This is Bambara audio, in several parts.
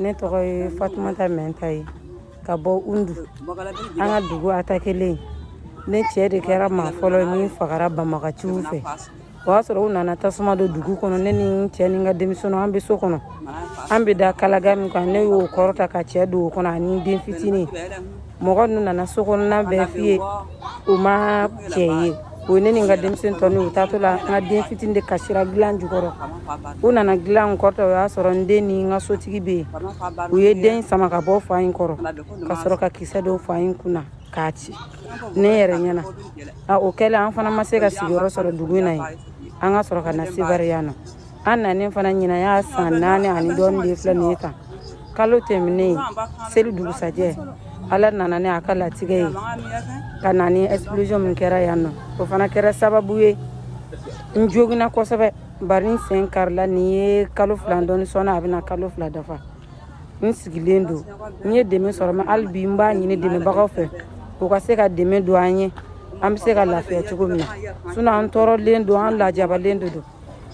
ne tɔgɔ ye Fatumata Mɛnta ye ka bɔ Undu an ka dugu atakelen ne cɛ de kɛra maa fɔlɔ min fagara banbagaciw fɛ o y'a sɔrɔ u nana tasuma don dugu kɔnɔ ne ni n cɛ ni n ka denmisɛnninw an bɛ so kɔnɔ an bɛ da kalaga min kan ne y'o kɔrɔta ka cɛ don o kɔnɔ ani n den fitinin mɔgɔ ninnu nana so kɔnɔna bɛɛ fuye o ma cɛ ye o ye ne ni n ka denmisɛn tɔ n'u taatɔ la n ka den fitini de kasira dilan jukɔrɔ u nana dilan kɔrɔta o y'a sɔrɔ n den ni n ka sotigi bɛ yen u ye den sama ka bɔ fa in kɔrɔ ka sɔrɔ ka kisɛ don fa in kun na k'a ci ne yɛrɛ ɲɛna a o kɛlen an fana ma se ka sigiyɔrɔ sɔrɔ dugu in na yen an ka sɔrɔ ka na Sevare yan nɔ an nanen fana ɲina y'a san naani ani dɔɔni de filɛ nin ye tan kalo tɛmɛnen seli dugusajɛ ala nana ni a ka latigɛ ye ka na ni explosion min kɛra yan nɔ o fana kɛra sababu ye n joginna kosɛbɛ bari n sen karila nin ye kalo fila dɔɔni sɔɔnin a bɛna kalo fila dafa n sigilen don n ye dɛmɛ sɔrɔ mɛ hali bi n b'a ɲini dɛmɛbagaw fɛ u ka se ka dɛmɛ don an ye an bɛ se ka lafiya cogo min na sinɔn an tɔɔrɔlen don an lajabalen de don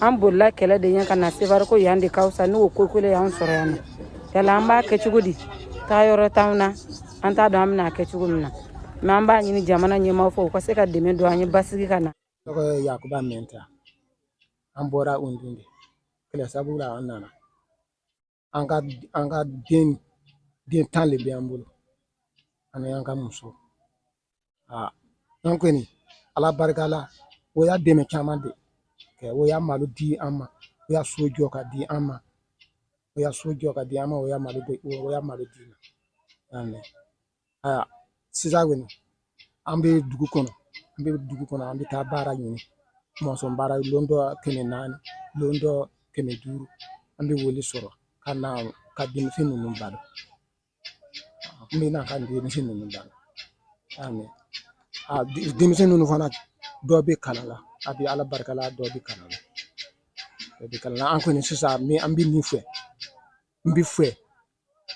an bolila kɛlɛ de ɲɛ ka na Sevare ko yan de ka fisa n'o ko kelen y'an sɔrɔ yan nɔ yala an b'a kɛ cogo di taa yɔrɔ t'anw na an t'a dɔn an bɛna a kɛ cogo min na mɛ an b'a ɲini jamana ɲɛmaaw fɛ u ka se ka dɛmɛ don an ye basigi ka na tɔgɔ ye yakuba mɛnta an bɔra Undu de kɛlɛ sabu la an nana an ka an ka den den tan de bɛ an bolo ani an ka muso aa an kɔni ala barika la o y'a dɛmɛ caman de kɛ o y'a malo di an ma o y'a so jɔ ka di an ma o y'a so jɔ ka di an ma o y'a malo o y'a malo di an ma Aa sisan kɔni an bɛ dugu kɔnɔ an bɛ dugu kɔnɔ an bɛ taa baara ɲini mɔnzɔn baara lon dɔ kɛmɛ naani lon dɔ kɛmɛ duuru an bɛ o le sɔrɔ ka na ka denmisɛn ninnu balo n bɛ na ka denmisɛn ninnu balo a mɛn a denmisɛn ninnu fana dɔ bɛ kalan la a bɛ ala barika la dɔ bɛ kalan la dɔ bɛ kalan na an kɔni sisan min an bɛ min fɛ n bɛ fɛ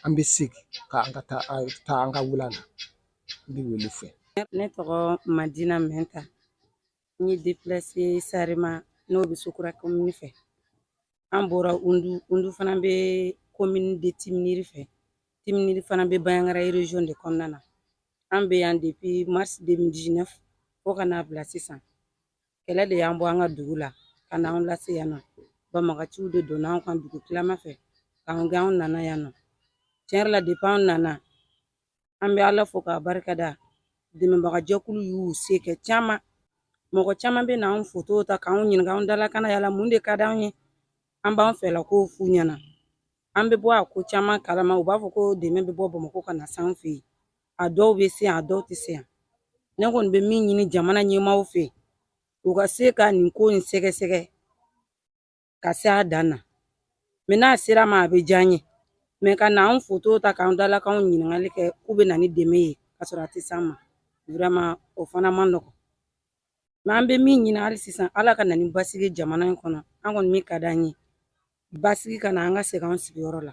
an bɛ segin ka an ka taa an taa an ka wula la n bɛ o le fɛ ne tɔgɔ madina mɛnta n ye deplase Sarema n'o bɛ sokura komini fɛ an bɔra undu undu fana bɛ komini de timiniri fɛ timiniri fana bɛ bayangara region de kɔnɔna na an bɛ yan depuis mars 2019 fo ka n'a bila sisan kɛlɛ de y'an bɔ an ka dugu la ka n'an lase yan nɔ banbagaciw de donna anw kan dugutilama fɛ k'an gɛn anw nana yan nɔ tiɲɛ yɛrɛ la depi anw nana an bɛ ala fo k'a barika da dɛmɛbagajɛkulu y'u se kɛ caman mɔgɔ caman bɛ na anw foto ta k'anw ɲininka anw dalakan na yala mun de ka d'anw ye an b'an fɛla kow f'u ɲɛna an bɛ bɔ a ko caman kalama u b'a fɔ ko dɛmɛ bɛ bɔ bamakɔ ka na s'an fɛ yen a dɔw bɛ se yan a dɔw tɛ se yan ne kɔni bɛ min ɲini jamana ɲɛmaaw fɛ u ka se ka nin ko in sɛgɛsɛgɛ ka se a dan na mɛ n'a ser'an ma a bɛ diya n ye mɛ ka na an foto ta k'an dalakanw ɲininkali kɛ k'u bɛ na ni dɛmɛ ye ka sɔrɔ a tɛ s'an ma vraiment o fana man nɔgɔn mɛ an bɛ min ɲini hali sisan ala ka na ni basigi jamana in kɔnɔ an kɔni min ka d'an ye basigi ka na an ka segin an sigiyɔrɔ la